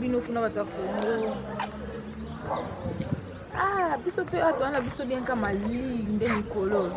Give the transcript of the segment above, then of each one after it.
bino kuna bato ya kongo ah biso mpe ato wana biso bianka malili nde mikolo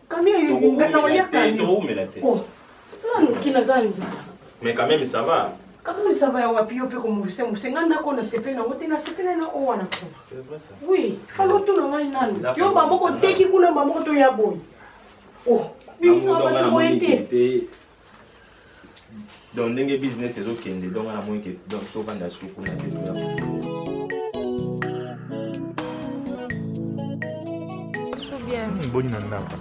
Kamia yo nga na olia kamia. Toko mela te. Oh. Sala no kina za nzala. Mais quand même ça va. Quand même ça va ya wapi yo pe ko muvisa muvisa nga na ko na sepela na wote na sepela na o wana ko. C'est vrai ça. Oui, falo to na ngai nani. Yo ba moko teki kuna ba moko to ya boy. Oh, bimisa ba to boye te. donc ndenge business ezokende donc wana moyeke donc tobanda suku na te toya hmm, boni na ndako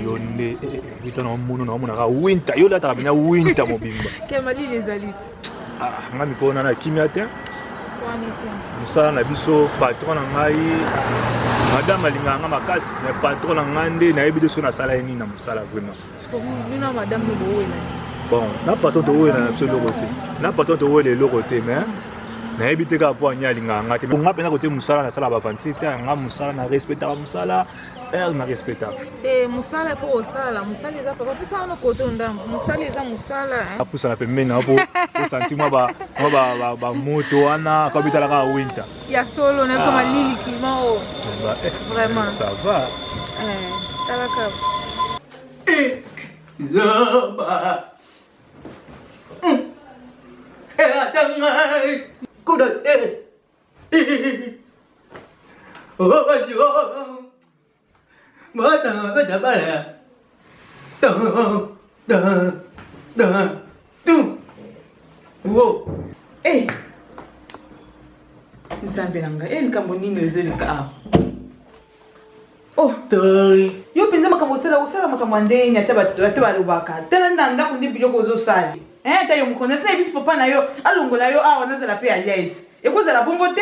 yo nde vita na omono na omonaka winta yo lataka bina winta mobimba ah, nga mikolo na na kimia te mosala na biso patron na ngai madame alingaka nga makasi mais patron na ngai nde nayebi te so nasala ye nini na mosala vraiment bon na patron towela na biso eloko te na patron towela eloko te mais nayebi te kaka mpo ania alingaka nga te nga mpenza kote mosala nasala bavanti te nga mosala na respectaka mosala heure na respectaka te mosala fo kosala mosala eza papa mposala no koto ndambo mosala eza mosala apusana pembeni na po osanti mwa bamoto wana kabitalaka winter ya solo na biso malili kima o vraiment ça va talaka zoba ata ngai kuda te obajola Mata na beta bala ya. Da da da tu. Wo. Eh. Nzambe na ngai, eh likambo nini ezoleka awa? Oh, tori. Yo mpenza makambo osala osala makambo ya ndenge nini ata bato ata balobaka tala nda ndako nde biloko ozosala eh ata yo mokonzi asala ebisi papa na yo alongola yo awa nazala mpe à l'aise ekozala bongo te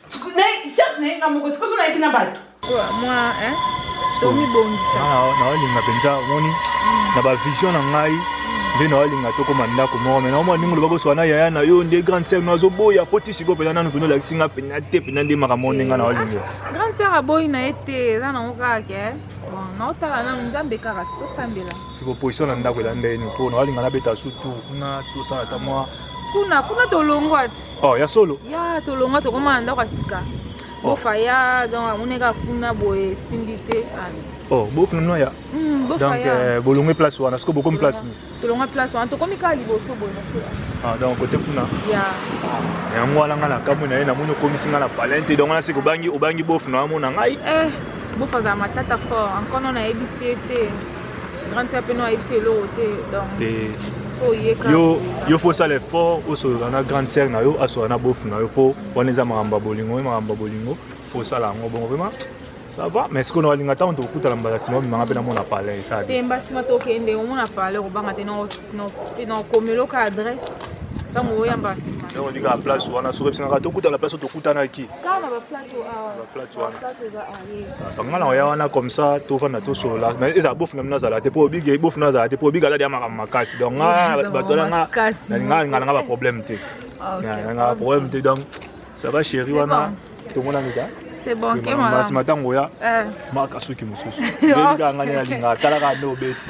chance na ye nga moko sikoso nayeki na bato mwa tomibongisa naolinga mpenza omoni mm. na bavision na ngai mm. nde naolinga tokoma ndako moko mai naomona ndenge olobaki oswana yaya na yo nde grande sœur no azoboya po ti sikoyo mpenza nanu mpenza olakisi nga mpenza te mpenza nde makambo nde nga naolinga eh, grande sœur aboyi na ye te eza nango kaka ke bon naotala nanu nzambe kaka ti tosambela siko position na ndako elanda ye ni mpo naolinga nabeta su tour kuna tosala ata mwa kuna kuna tolongwa ti oh ya solo ya tolonga tokoma na ndako ya sika oh. bofa ya donc amoni kaka kuna boye esimbi te oh bofa nano ya hmm, donc euh, bolongwe place wana siko bokomi place tolongwa place wana tokomi kaka liboso boye ah, donc kote kuna ah, yango wana ngai nakamwi na ye namoni okomisi ngai na palin te donc wana siko obangi bofa na amona ngai eh, bofa azala matata fort ankono nayebisi ye te grande sœur peno ayebisi eloko te donc yo yo faut sala effort osolola na grande sœur na yo asola na bofu na yo mpo wana eza makambo ya bolingo ye makambo ya bolingo faut osala yango bongo vraiment ça va mais sikoyo na balinga ntango tokokutana mbala nsima obimanga mpe namona palais esala te mba nsima tokende omona palais okobanga te nakomeloka adresse ntango oyamba nsima ntango olinga place wana soki ebisangaka tokutana place oyo tokutanaki baplace wana nga na oya wana comme ça tofanda tosolola mais ezala bofu na bino azala te mpo obigi bofu na azala te mpo obigi azali ya makambo makasi donc nga bato alanga nalinga alinga nanga baproblème te ah, nanga baproblème te donc ça va chéri wana tomonani ka c'est bon ke mama matango ya eh. maka suki mosusu ndenga nga ne alinga atalaka nde obeti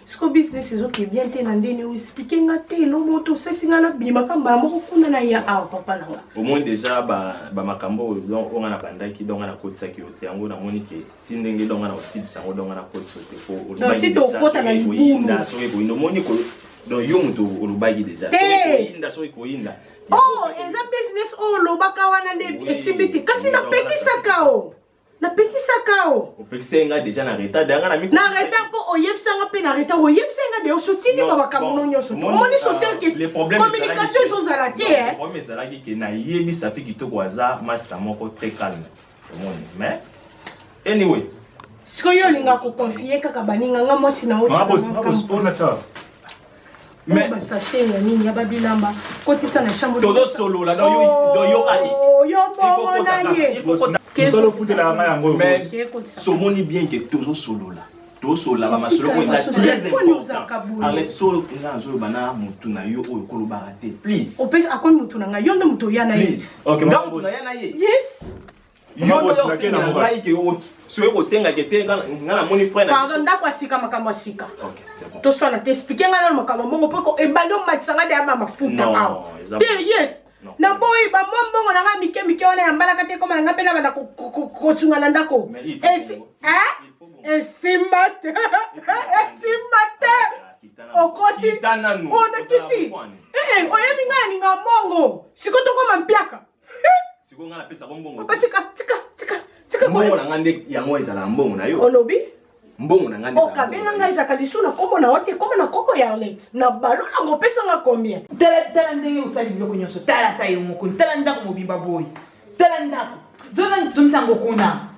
siko business ezoke bien te na ndeni oyo explike nga te elo moto osesi nga nabimaka mbala moko kuna na ya awa papa na nga omoni deja bamakambo oyo don oyo nga nabandaki don nga nakotisaki yo te yango namoni ke ti ndenge don nga na osilisa yango don nga nakotisa yo te po olobaki okota na libulu soki ekoyinda omoni donc yo moto olobaki deja soki soki koyinda oh eza business oyo olobaka wana nde esimbi te kasi napekisaka o napekisaka o opekisaki ngai deja na retard yanga na na retard mpo oyebisanga mpe na retard oyebisaki ngai de osotindi ba makambo no nyonso omoni social ke communication ezozala te eh. problème ezalaki ke nayebi safi kitoko aza masta moko très calme omoni mais anyway sikoyo olinga koconfie kaka baninga nga mwasi na oyo Mais ba sachet ya nini ya ba bilamba kotisa na chambre. Tozo solola donc yo donc yo ali. Oh, yo bongo na ye. Mosolo futela nga yango yo. Mais somoni bien que tozo solola. tosolola bamasolo oyo eza très important arlete solo nga nazoloba na motu na yo oyo kolobaka te please akomi motu na ngai yo nde motu oya na ye nga motu naya na ye yes Yondo yo osenga na ngai ke yo soki kosenga ke te nga na moni frère na pardon ndako asika makambo asika okay c'est bon to sala te expliquer nga na makambo mbongo poko ebandi omatisa nga deya ba mafuta awa te yes na boyi ba mwa mbongo na nga mike mike wana ya mbalaka te koma na nga mpe na banda kosunga na ndako esimba te esimba te okosi ona kiti oyebi nga na ninga mbongo sikoyo tokoma mpiaka sikoyo ngai napesa bango mbongo papa tika tika tika tika mbongo na ngai nde yango ezalaka mbongo na yo olobi mbongo na ngai nde okabela ngai ezalaka lisu na nkombo na yo te koma na nkombo ya arlete na balo nango opesa ngai combien tala tala ndenge osali biloko nyonso tala ta yo mokoni tala ndako mobimba boye tala ndako zozangisango kuna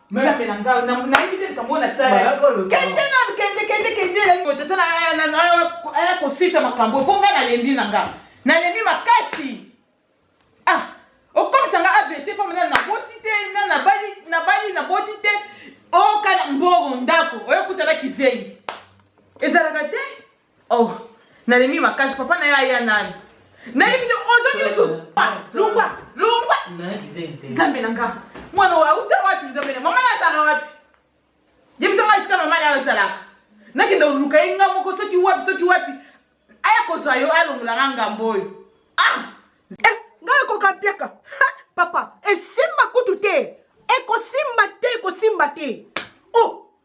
Nzambe na ngai na na yibite likambo na sala. Kende na kende kende kende la ko tata na na na aya ko sisa makambo ko ngai na lembi na ngai. Na lembi makasi. Ah, okomisa ngai AVC po na na boti te na na bali na bali na boti te. O kana mboro ndako, oyo kutala kizengi. Ezalaka te? Oh, nalembi makasi papa na ye aya nani? Nayebi biso ozongi lisusu. Lungwa, lungwa. Nzambe na nga. Mwana oyo auta wapi nzambe na mama azalaka wapi? Yebisa nga esika mama na azalaka. Nakende koluka ye nga moko soki wapi soki wapi. Aya kozwa yo alongola nga ngambo oyo. Ah! Eh, nga nakoka mpiaka. Papa, esimba kutu te. Ekosimba te, ekosimba te. Oh!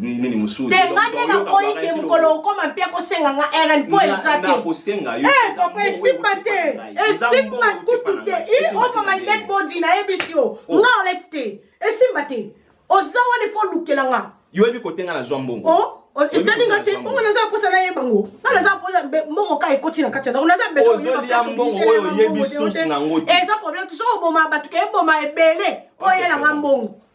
nini mosusu te nga nde nakoyi ke mokolo okoma mpe akosenga nga rn mpo eza te eh, papa esimba te esimba kutu te i over my dead body nayebisi yo oh. nga oleti te esimba te oza wana ifo olukela nga yo oyebi kote nga nazwa mbongo oh, oh, etali nga te bongo naza kosa nayeba ngo nga naza koya mbongo ka ekoti na kati ya ndako naza mbeozolia mbongo oyo oyebi susu na ngo te eza problème soki oboma bato ke eboma ebele mpo oyela nga mbongo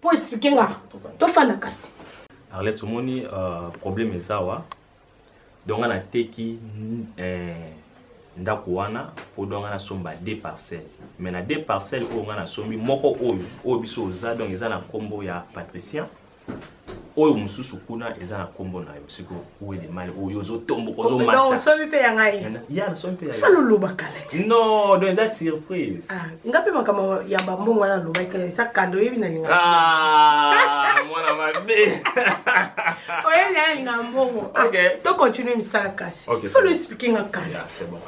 Po expliquer nga. To fana kasi. Arlette omoni euh, problème eza wa. Donc nga na teki euh, ndako wana po donc nga na somba deux parcelles. Mais na deux parcelles oyo nga na sombi moko oyo oyo biso oza donc eza na kombo ya Patricia. Oyo mosusu kuna eza na kombo na yo sikoyo. Où est le mal oyo ozotomboka ozomata donc osomi mpe ya ngai ya nasomi mpe fana oloba kala ti non donc eza surprise ah, nga mpe makambo ya bambongo wana alobaki eza kado oyebi na linga ah, mwana mabe oyebi na ya linga mbongo ah, to continue misala kasi fana explike nga kala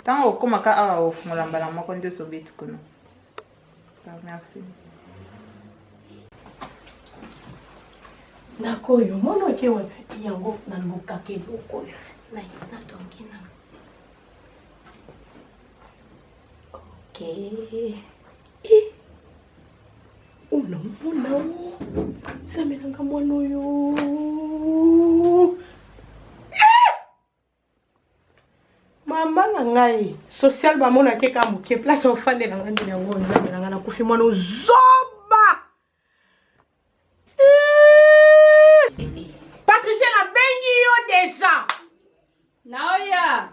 ntango okomaka awa ofungola mbala moko nde ozobeti kuna merci ndako oyo mwana oke wapi yango nalukaka eloko oyo natongi na ok unamona zamelanga mwana oyo mama na ngai social bamona ke ka moke place ofandela ngai ndini yango nzambe na ngai nakufi mwana ozoba patricia nabengi yo deja naoya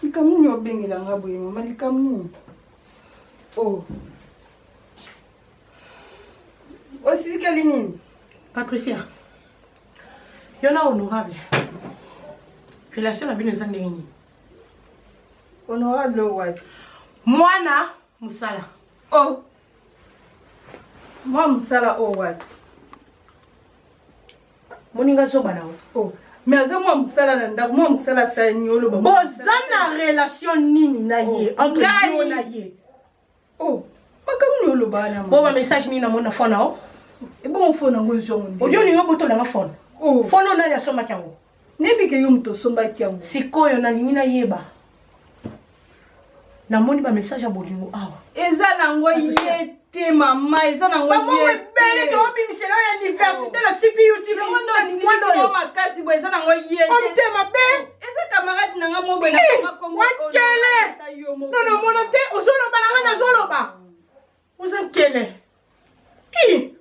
likambo nini obengela ngai boye mama likambo nini o oh. osilikeli nini patricia yo na honorable relation na bino eza ndenge nini honorable wapi mwana mosala o oh. mwa mosala oyo oh, wapi moninga zoba na o oh. mais aza mwa mosala na ndako mwa mosala asani oloba boza na relation nini na ye entre yo na ye Oh, makambo nini olobaka na mama? Bo ba message nini namoni na phone na yo? Ebongo phone yango ezwa ngo nde. Oyo ningo botola nga phone. Oh. Phone oyo nani asombaki yango? Nayebi ke yo moto osombaki yango. Sikoyo nalingi nayeba. Namoni ba message ya bolingo awa. Eza na ngo ye te mama eza na ngo ye te. Bele to bimisela ya université na CPU TV. Mwana oyo makasi bo eza na ngo ye te. Omite mabe. eza camarade na nga mobwe na eh, wakele no na mono te ozoloba na nga nazoloba oza nkele i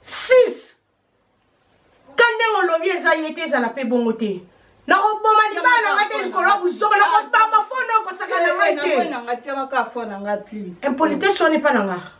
six ka ndenge olobi eza ye te ezala mpe bongo te na oboma libala na nga te likolo buzoba na kobamba fona okosaka na ngai te impolitesse wana epa na nga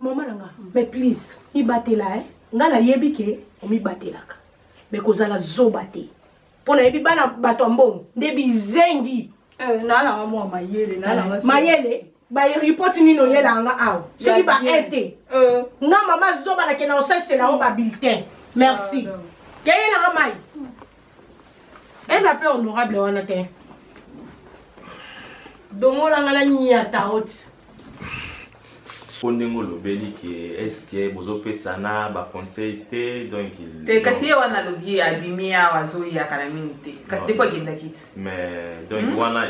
Maman nanga, mais please, mibatela hein. Nga na yebi ke omibatelaka. Mais kozala zoba te. Mpo nayebi bana bato ya mbongo nde bizengi. Eh, nalanga mwa mayele, nalanga eh, mayele. bareport nini oyela yanga awa soki ba aide te euh. nga mama zoba nakenda osalisa na yango babulletin merci ah, yayelanga mai eza mpe honorable wana te dongolanga na nyata oti po ndenge olobeli ke eske bozopesana baconseil te donc te kasi ye wana alobi abimi awa azoya kala mingi te kasi depo akendaki ti mais donc hmm? wana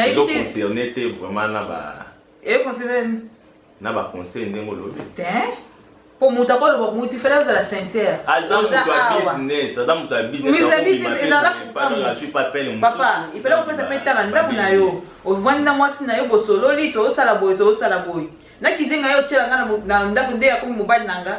ezoconcerne te vraiment na ba econcerne na ba conseil ndenge olobi tein po moto akoloba moto ifele ozala sincère aza moto ya business aza moto ya businesspapa ifele kopesa mpe tala ndako na yo ovandi na mwasi na yo bosololi toosala boye toosala boye na kizenga yo otyela nga na ndako nde akomi mobali na nga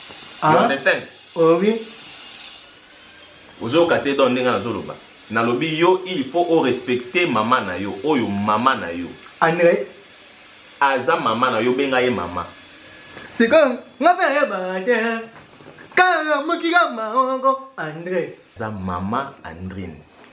you ah. understand oh, oui ozoyoka te donc ndenge nazoloba nalobi yo il faut o respecter mama na yo oyo mama na yo andre aza mama na yo benga ye mama sikoyo nga mpe ayebaka te kaka mokika maongo andre aza mama andrine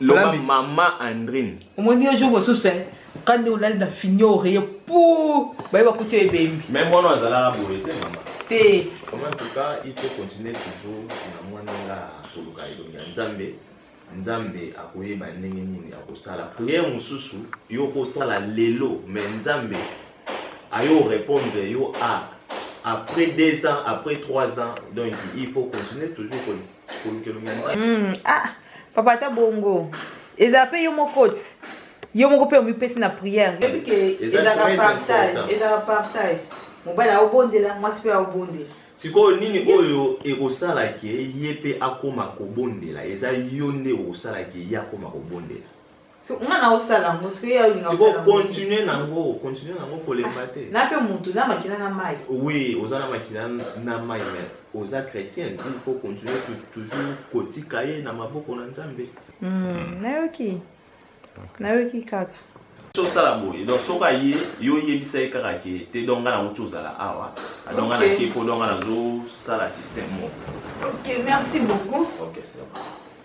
loba mama andrine omoni yo jour mosusu eh, kande olali na finio oreye pu baye bakuti yo ebembi me mwana azalaka boye te mama te en tout cas il faut continuer toujours na mwana nga koluka elongi ya nzambe nzambe akoyeba ndenge nini akosala priere mosusu yo okosala lelo me nzambe ayo répondre yo a ah, après deux ans après trois ans donc il faut continuer toujours Hmm, ah, papa ata bongo ezala mpe yo moko te yo moko mpe omipesi na priere ezalaka partage mobali aobondela mwasi mpe aobondela sikoyo nini oyo ekosala ke ye mpe akoma kobondela eza yo nde okosala ke ye akoma kobondela nga na osala yango sikoyo continue nango continue nango kolemba ah, te na mpe motu na makila na mai oui oza na makila na mai mais oza chrétienne il faut continuer toujours kotika ye na maboko na nzambe hmm, nayoki nayoki kaka osala boye donc soki aye yo oyebisa ye kaka ke te donc nga na wuti ozala awa donc nga nake mpo donc nga nazosala système moko ok merci beaucoup ok c'est bon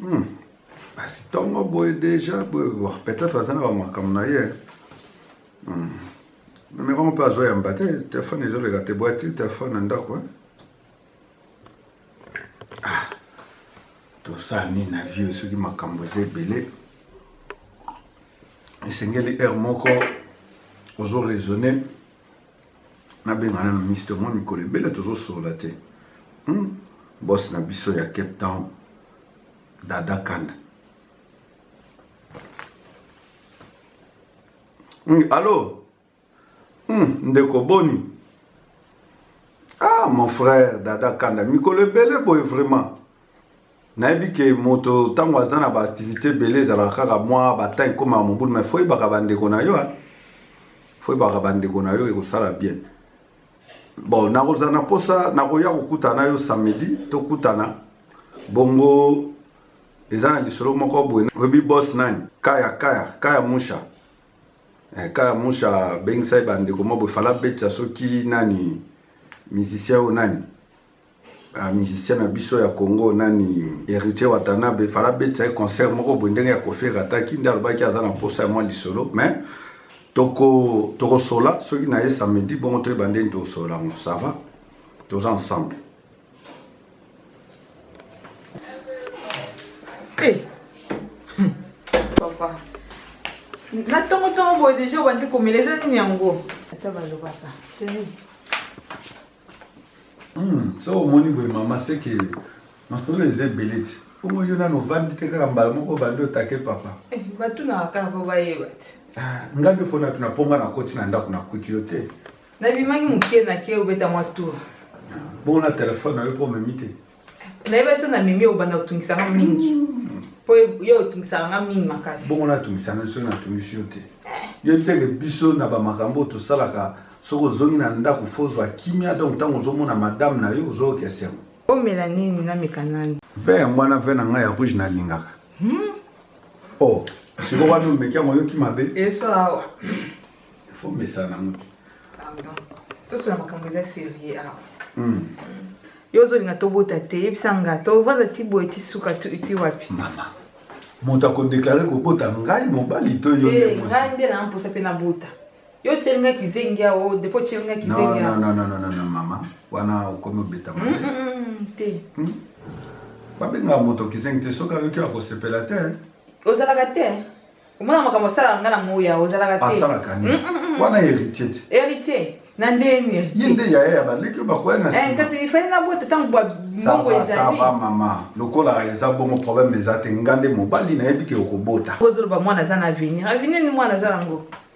Hmm. Basi tongo boye deja boye bon peut-être aza na ba makambo na ye. Hmm. Meme kama mpe azoyamba te telefone ezoleka te bwati telefone na ndako ah. tosala nini na vie soki makambo eza ebele esengeli heure moko ozo raisonner nabenga nano mister mwa mikolo ebele tozosolola te hmm? bos na biso ya cape town dada kanda hmm, allo hmm, ndeko boni ah mon frère dada kanda mikolo ebele boye vraiment nayebi ke moto ntango aza na baaktivité ebele ezalaka kaka mwa batemp ekomaka mobulu mai fo oyebaka bandeko na yo fo oyebaka bandeko na yo ekosala bien bon nakozala na mposa nakoya kokutana na yo samedi tokutana bongo eza na lisolo moko boye oyebi bos nani kaya kaya kaya musha eh, kaya musha abengisaki bandeko moko boye fala abetisa soki nani musicien oyo nani ba ah, musicien na biso ya congo nani héritier watanabe fala abetisa ye concert moko boye ndenge ya kofi ekataki nde alobaki aza na mposa ya mwa lisolo mais tokosola toko soki na ye samedi bongo toyeba ndeni tokosola yango ça va toza ensemble hey. Eh. Hmm. papa na ntongo ntongo boye deja obandi komela eza nini yango ata balobaka chérie Hmm, so omoni boye mama seke masolo eza ebele ti bongo yo nano ovandi te kaka mbala moko obandi otake papa eh, batunaka kaka mpo bayeba te ah, nga nde fona tuna mpo nga nakoti na ndako nakuti yo te nabimaki moke nake obeta mwa tour ah, bongo na telefone na yo mpo omemi te nayebaki so na mimi obanda kotungisa nga mingi mpo mm. yo otungisaka nga mingi makasi bongo natungisa na biso natungisi yo te eh. yo ntenge biso na bamakambo oyo tosalaka soki ozongi na ndako fo ozwa kimia donc ntango ozomona madame na yo ozoyoka esengo omela nini nameka nani ve ya mwana ve na ngai ya rouge nalingaka hmm? o oh, sikoyo wana omeki yango oyoki mabe eso awa Il faut mesana mutu. Pardon. Tout ça makambo eza sérieux awa. Hmm. Yo ozolinga tobota te yebisa nga tovanda ti boye ti suka ti wapi. Mama. Moto akodeklare kobota ngai mobali to yo eh, nde ngai nde na mposa mpe nabota yo otyeli ngai kizengi ao depo otyeli ngai kizengi ao non, non, non, non, non, mama wana okomi obetama mm, mm, mm, te hmm? babengaka moto kizengi te soki ayoki akosepela te ozalaka te omona makambo asalaka nga na moya ozalaka te asalaka nini mm, mm, mm, wana héritier te héritier na ndeni ye nde yaya ya baleki oyo bakoya na eh, kasi ifali nabota ntango mbongo ezalisava mama lokola eza bongo problème eza te nga nde mobali nayebi ke okobota ozoloba mwana aza na avenir avenir ni mwana aza nango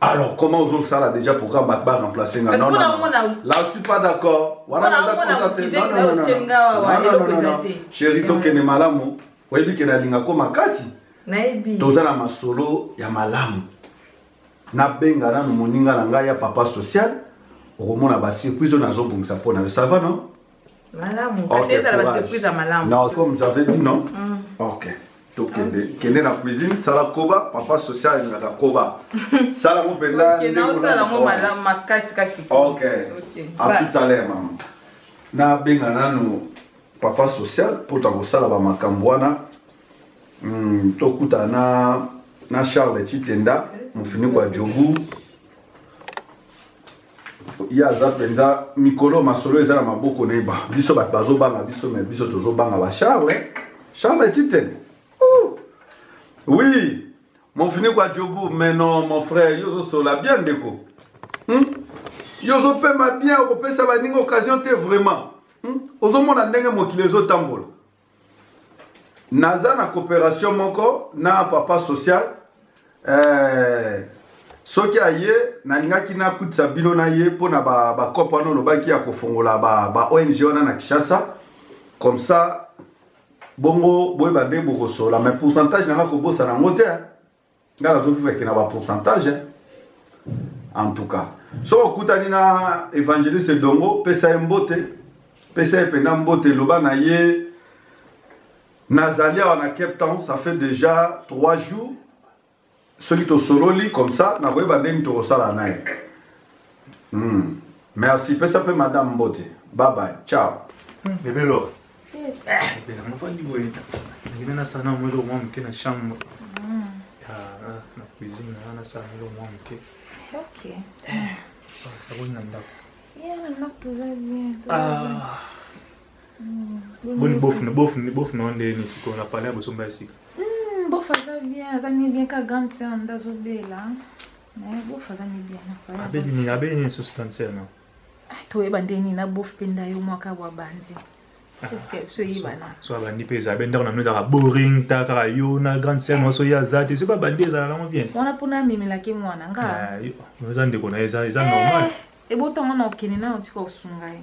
Alors, comment vous ça là déjà pour qu'on batte pas remplacer Non, non, non. Là, je suis pas d'accord. Voilà, non, non, non, non. Chérie, toi, qu'elle est malade, vous voyez qu'elle a linga comme à Cassi. Naïbi. Toza na masolo ya malamu. Na benga na moninga na ngai ya papa social. Okomona ba surprise na zo bongisa pona. Ça va non? Malamu, okay, ezala ba surprise ya malamu. Non, comme j'avais dit non. Mm. OK. tokende okay. kende na cuisine sala koba papa social alingaka koba sala ngo mpenza ok a tout à l'heure mama nabenga nanu papa social mpo ta kosala bamakambo wana mm, tokuta na, na charles chitenda mofiniko ya jogu ye aza mpenza mikolo masolo eza na maboko na ye biso bato bazobanga biso me biso tozobanga ba charle charle titen oh. oui mofiniko ya jobu mais non mon frère yo ozosola bien ndeko hmm? yo ozopema bien okopesa baninga occasion te vraiment hmm? ozomona ndenge mokili ezotambola naza na coopération moko na papa social eh, soki aye nalingaki nakutisa bino na ye mpo na bakope ba wana olobaki ya kofongola ba, ba ong wana na kinshasa comme ça bongo boyeba nde bokosola mais pourcentage nanga kobosana yango te nga nazo vivre ke na ba pourcentage hein. en tout cas so okutani na évangéliste dongo pesa ye mbote pesa ye mpenza mbote loba na ye nazali awa na cape town ça fait déjà trois jours soki tosololi comme ça nakoyeba ndenge tokosala na ye hmm. merci pesa mpe madame mbote babaye ciao hmm. bebelo Bela nafandi boye nakenda nasala na mwelo mwa moke na chambre na cuisine na nasala mwelo mwa moke saboni na ndako boni bofuna bofuna bofuna o ndeni sikoyo na pale ya bosomba ya sika bofa aza bien aza ni bien ka grande sœur nde azobela bofa aza ni bien abeli nini abeli nini susu grande sœur na Ah, toyeba nde nini na bof mpe ndayo mwaka bwa banzi ah, so abandi mpe ezala be ndako na mino ezalaka boring ta kaka yo na grande sere nyonso ye aza te soki babandi ezala nango bien wana mpona amemelaki mwana nga ah, eza ndeko na ye eza normal eh, ebotanga na okende nayo tika osunga ye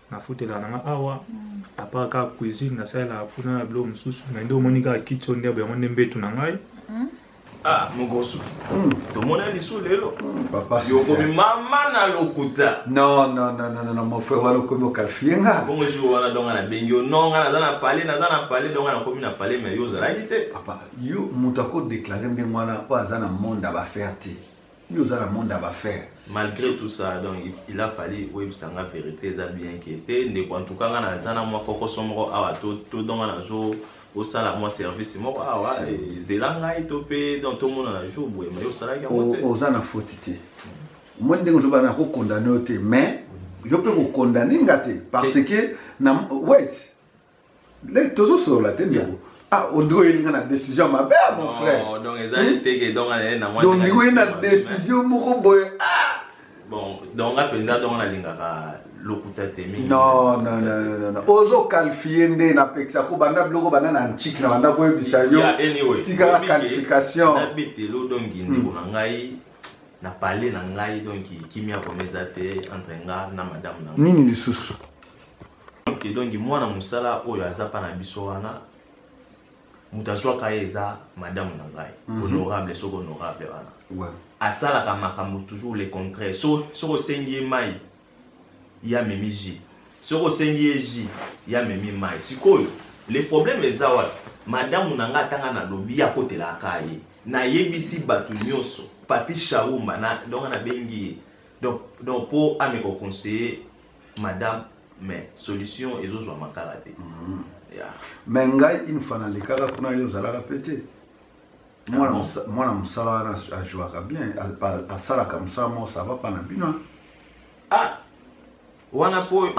nafutelaka na nga awa apart kaka cuisine nasalelaka kuna na biloko mosusu mai nde omoni kaka kiti oyo ndebo yango nde mbetu na ngai hmm? ah mokosu hmm. tomona lisu lelo hmm. okomi mama na lokuta nonnnnn mon frère wana okomi okalfie nga bongo jour wana donga nabengi yo non nga naza na pale naza na pale donga nakomi na pale mai yo ozalaki te papa yo moto akodeklare ndenge wana oyo aza na monde ya bafere te yo oza na monde ya bafaire malgré tout ça donc il a fallu oyebisa nga vérité eza bien ke te ndeko en tout cas nga naza na mwa kokoso moko awa todonga nazo osala mwa service moko awa ezela ngai to mpe donc tomonana jour boye mai osalaki yango te oza na foti te omoni ndenge ozobana na kokondane yo te mais yo mpe kokondane nga te parce que na wet ndenge tozosolola te ndeko ah ondeko oyeli nga na décision ya mabe ah, mon frère donc eza eteke donc ndeko oyeli na décision moko boye ah bon donc nga mpenza donc nalingaka lokuta te mingi non non non non ozokalifie nde napekisa ko banda biloko banda na ntiki na banda koyebisa yo tikala qualification na betelo donc ndeko na ngai na pale na ngai donc kimia vraimen eza te entre nga na madame na nini lisusu ok donc mwana mosala oyo aza pa na biso wana moto azwaka ye eza madame na ngai mhm. honorable soki honorable wana asalaka makambo toujours le contraire soki osengi ye mai ya memi ji soki osengi ye ji ya memi mai sikoyo le problème eza wapi madamu na ngai atanga nalobi akotelaka ye nayebisi bato nyonso papi shauma donc nabengi ye donc mpo ameka oconseille madame mais solution ezozwa makala te mm. yeah. mais ngai une fois nalekaka kuna yo ozalaka mpe te ah mwana mosala wana ajouaka bien asalaka mosala moko sava mpa na bino ah wana mpo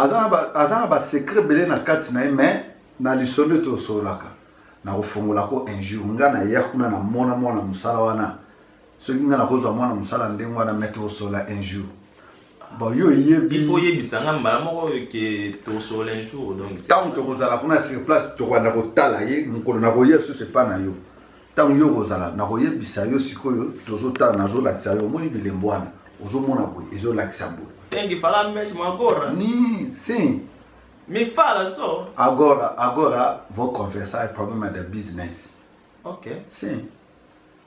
aza na basecret ebele na kati na ye mais na lisolo ete osololaka nakofungolako un jour ngai naya kuna namona mwana mosala wana soki ngai nakozwa mwana mosala ndenge wana mete osola un jour Bon, yo yebi. Il faut yebisa nga mbala moko que to sur un jour donc. Tant que kozala kuna sur place to kwanda ko tala ye mukolo na ko yesu c'est pas na yo. Tant yo kozala na ko yebisa yo sikoyo tozo tala nazo lakisa yo moni bilembo wana. Ozo mona boye ezo lakisa boye. Tengi fala mesh magora. Ni, sim. Me fala só. Agora, agora vou conversar problema da business. Ok. Sim.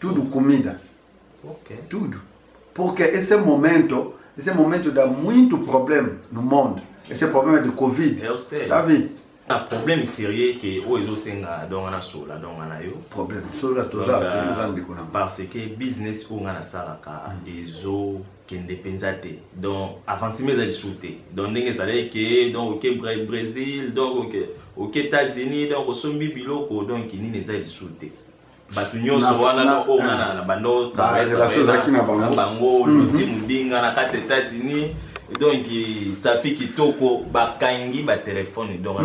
tudo comida okay. tudo porque esse momento esse momento dá muito problema no mundo esse problema de covid eu sei tá vendo na problème sérieux ke oyo ezosenga donc wana sola donc wana yo problème sola toza toza ndeko na parce que business oyo nga nasalaka mm. ezo kende mpenza te donc avancement ezali su te donc ndenge ezalaki ke donc oke brésil donc oke oke états-unis donc osombi biloko donc nini eza lisu te bato nyonso wana noko nga na na bando ezalaki na bango bango mhm. luti mobinga na kati ya États-Unis donc safi kitoko bakangi batelefone donc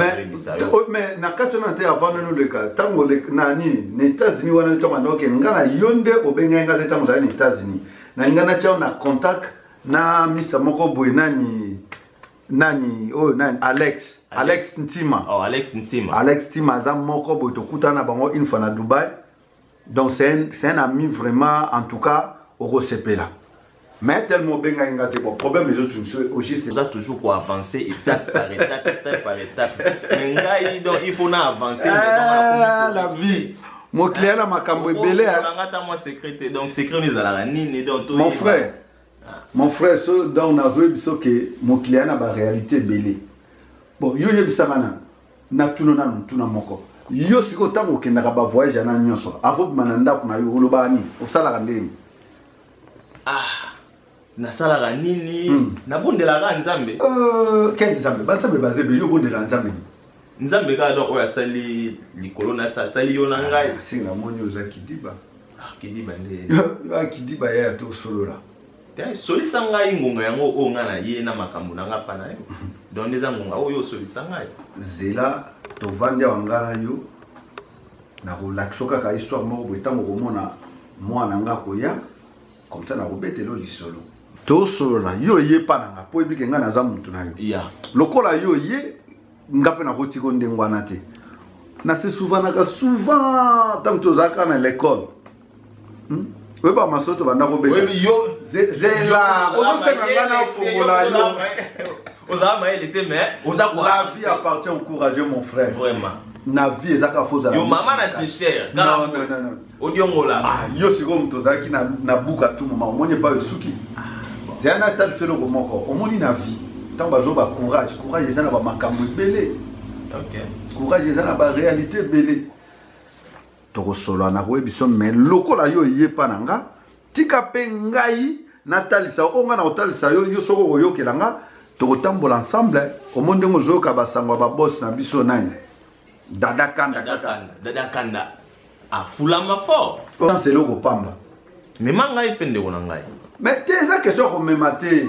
mais na kati wana te avant nani oleka ntango nani na états-unis wana otanga noke nga na yo nde obengai nga te ntango ozali na états-unis nalinga natya na contact na misa moko boye nani nani oyo oh, nani alex alex ntima oh, alex ntima alex ntima aza moko boye tokutana na bango une fois na dubai donc c'est un, c'est un ami vraiment en tout cas okosepela mais tellement obengaki nga te bon problème ezo tunso au juste oza toujours ko avancer étape par étape étape par étape mais ngai donc il faut na avancer ah, la vie mokiliya na makambo ebele nanga ata mwa secret te donc secret oyo ezalaka nini donc mon frère Mon frère so donc nazo yebiso ke mokili aya na ba réalité ebele bon yo yebisanga na natuna nanu ntuna moko yo sikoyo ntango okendaka ba voyage yana nyonso avant obima na ndako na yo olobaka nini osalaka ndenge ah nasalaka nini hmm. nabondelaka nzambe euh, quel nzambe banzambe baza ebele yo obondelaka nzambe nzambe kaka donc oyo asali likolo na sa asali yo na ngai ah, si namoni oza kidiba ah, kidiba nde ah, kidiba yaya tosolola solisa ngai ngonga yango oyo ngai na ye na makambo na ngai mpa na yo donc nde eza ngonga oyo osolisa ngai zela tovandi awa ngai na yo nakolakisa kaka histoire moko boye ntango okomona mwana ngai akoya komsa nakobetela lisolo tosolola yo oye mpa na ngai mpo oyebike ngai naza motu na yo lokola yo oye nga mpe nakoti ko ndenge wana te nasesouvanaka souvent ntango tozalaka na lekole hmm? oyeba maso tobanda kobela zela ozosenga ngai nafongola yo ozala mayele te mais oza la vie appartient au courageux mon frère vraiment na vie ezaka fozala yo mama na tricheur odiongola ah, yo sikoyo moto ozalaki na, na buka tu moma omoni epai osuki ah, zela na tali mpe eloko moko omoni na vie ntango bazoba courage courage eza na bamakambo ebele okay. courage eza na baréalité ebele tokosolola na koyebiso me lokola yo eyepa na nga tika mpe ngai natalisa oyo ngai nakotalisa yo yo soko okoyokela nga tokotambola ensemble omo ndenge ozoyoka basango ya babosi na biso nani Dada Kanda Dada kaka. Kanda, Dada Kanda afulama fort. Sans eloko pamba. Mema ngai mpe ndeko na ngai. Mais te eza question ya komema te.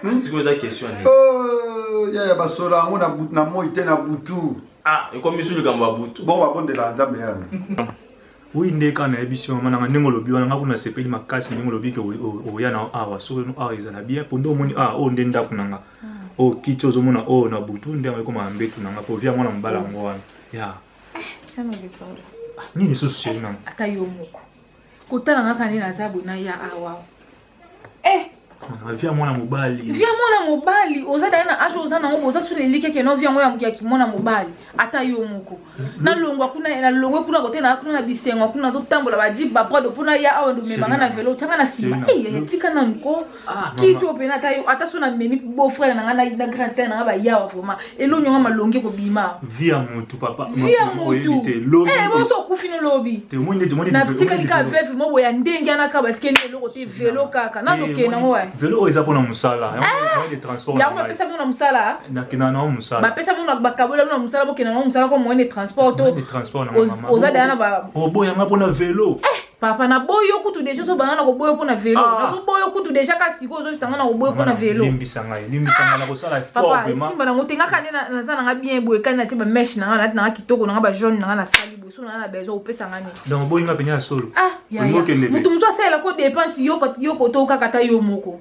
Hmm? Sikoyo eza question ya nini? Oh, ya ya basola yango na but na moi te na butu. Ah, ekomi su likambo ya butu. Bon babondela Nzambe yana. Oui nde kaka nayebi si mama nanga ndenge olobi wana ngai kuna nasepeli makasi ndenge olobi ke oya na awa soki no awa ezala bien mpo nde omoni awa oyo nde ndako na nga oyo kiti ozomona oyo na butu nde yango ekoma mbetu na nga mpo via mwana mobala yango wana ya nini lisusu sheri nanga ata yo moko kotala nga kani naza boye naya awa eh ah, via mwana mobali via mwana mobali oza dai na age oza nango boza suna elike keno via yango ya kimwana mobali ata yo moko hmm. nalongwa kuna nalongwe kuna kote na kuna na bisengo kuna totambola bajiba prado mpona ya awa ndomema nga na velo tyanga na nsima etika nanu ko ah, kito mpena ata yo ata so na memi beau frère na nga na grande sere na nga bayawa vraiment elonyo nga malongi ekobima vie ya mutu papa vie ya mutu eh boso okufi no lobi na tikali ka veuve mo boya ndenge ana ka batikeli eloko te velo kaka na loke na ngo velo oyo eza pona musala yango de transport yango ba pesa na musala na kina na musala ba pesa na ba kabola na musala bo kina na musala ko moyen de transport to oza dana ba oboya nga pona velo eh papa na boyi yo kutu deja ozo banga na koboyo mpo na velo ah. nazo boyo kutu deja ka sikoyo ozobisa nga na koboyo mpo na velo limbisa ngai limbisa ngai nakosala papa esimba nango tengaka nde naza nanga bien boye kani natie bameshe nanga nati nanga kitoko nanga bajaune nanga nasali boye soki nanga na besoin opesa nga nini donc oboyi nga pene ya solo ah, moto mosusu asalela ko dépense yoko tokaka ata yo moko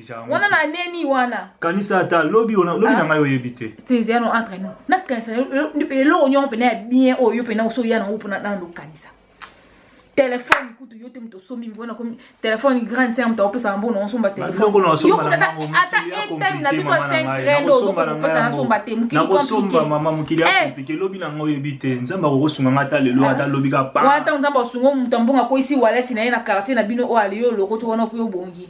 wana na neni wana kanisa ata lobi ah. na ngai oyebi te teze yano entre nous nakanisa eloko nyongo mpena ya bien oyo yo mpena oso ya nango mpona nano okanisa telefone kutu yo te moto osombi mpona komi telefone grande sere moto akopesa yango na osomba telefoneata etani na biso ya senkre nde ozokopesa nasomba te mokilikomama mokili akomplike eh. lobi na yango oyebi te nzambe akokosunga ngai ata lelo ata lobi ka pa wana ntango nzambe asunga moto ambongo akwesi waleti na ye na quartier na bino oyo aliyo olokoti wana okoki obongi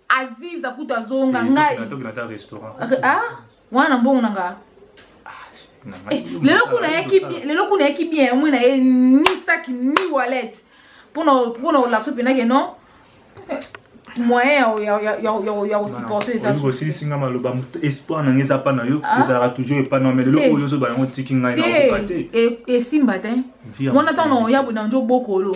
aziza kutu azonga ngai ah, wana na mbongo na nga ah, eh, lelo kuna yaki lelo kuna yaki bien yango na ye ni sac ni wallet pona pona olakso pena ke non moyen ya kosupporte ezaosilisi nga maloba espoir na ngai eza pa na yo ah. ezalaka toujours epa na me lelo eh. oyo ozoba yango tiki ngai nakoka te eh, esimba te mona ntango ya bonanjo bokolo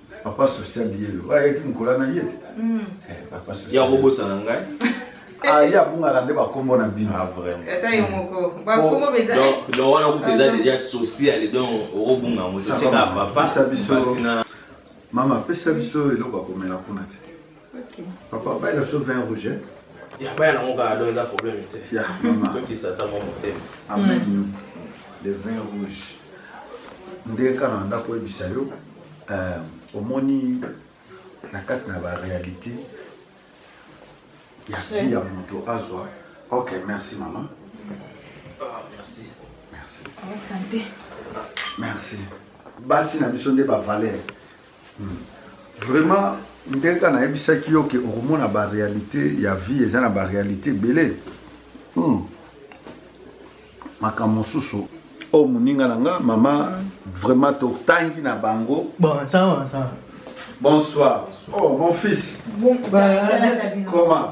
papa social yelo oyo ayaki mokolo wana ye te hmm. eh, papa social ya kobosana ngai aye ah, abungaka nde bakombo na bino ah, donc wana kuta eza deja sociale donc okobunga yango toteka papa biso mama apesa biso eloko akomela kuna te Okay. Papa, baye la chose vin rouge. Ya baya nango kaka do eza problème te. Ya mama. Tokisa ta mama te. Amen. Mm. Le vin rouge. Ndenge kaka na ndako oyebisa yo euh, omoni na kati na ba réalité ya vie ya moto azwa. Ok, merci mama. Ah, merci. Merci. Merci. Basi na biso nde ba valeur. Hmm. Vraiment ndenge kaka nayebisaki yo ke okomona barealité ya vie eza na barealité ebele hmm. makambo mosusu oyo oh, moninga na nga mama vraiment totangi na bango bon, sawa, sawa. bonsoir oh mon fils bon, bah, comment